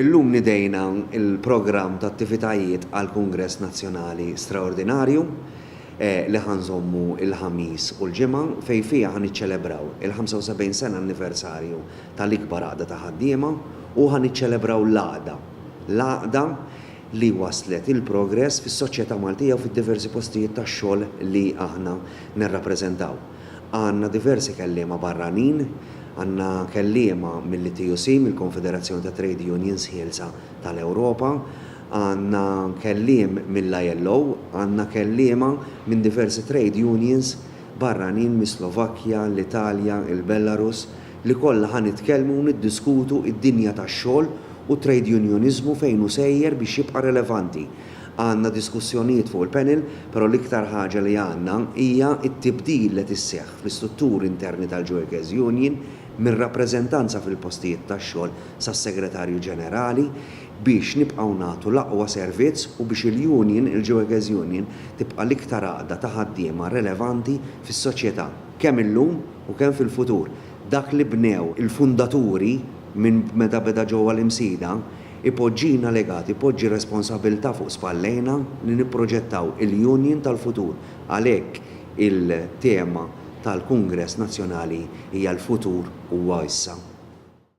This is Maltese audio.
Illum nidejna l-programm ta' attivitajiet għall-Kungress Nazzjonali Straordinarju li ħa nżommu l-Ħamis u l-Ġimgħa fejn fiha ħa niċċelebraw il-75 sena anniversarju tal-ikbar għaqda ta' ħaddiema u ħa niċċelebraw l-għaqda, l-għaqda li wasslet il-progress fis-soċjetà Maltija u fid-diversi postijiet tax-xogħol li aħna nirrappreżentaw. Għandna diversi kelliema barranin, għandna kelliema mill-ITUC, mill-Konfederazzjoni ta' Trade Unions Ħielsa tal-Ewropa, għandna kelliem mill-ILO, għandna kelliema minn diversi trade unions barranin mis-Slovakkja, l-Italja, il-Belarus, li kollha ħa nitkellmu u niddiskutu d-dinja tax-xogħol u t-trade unioniżmu fejn hu sejjer biex jibqa' relevanti. Għandna diskussjonijiet fuq il-panel, però l-iktar ħaġa li għandna hija t-tibdil li qed isseħħ fl-istutturi interni tal-Joekers Union mir-rappreżentanza fil-postijiet tax-xogħol sas-Segretarju Ġenerali biex nibqgħu nagħtu l-aqwa servizz u biex il-union, il-Joekers Union, tibqa' l-iktar għaqda ta' ħaddiema relevanti fis-soċjetà, kemm illum u kemm fil-futur. Dak li bnew il-fundaturi minn meta beda ġewwa l-Imsida, Ipoġġina legat, ipoġġi responsabbiltà fuq spallejna li nipproġettaw il-Union tal-futur. Għalhekk il-tema tal-Kungress Nazzjonali hija l-futur huwa issa.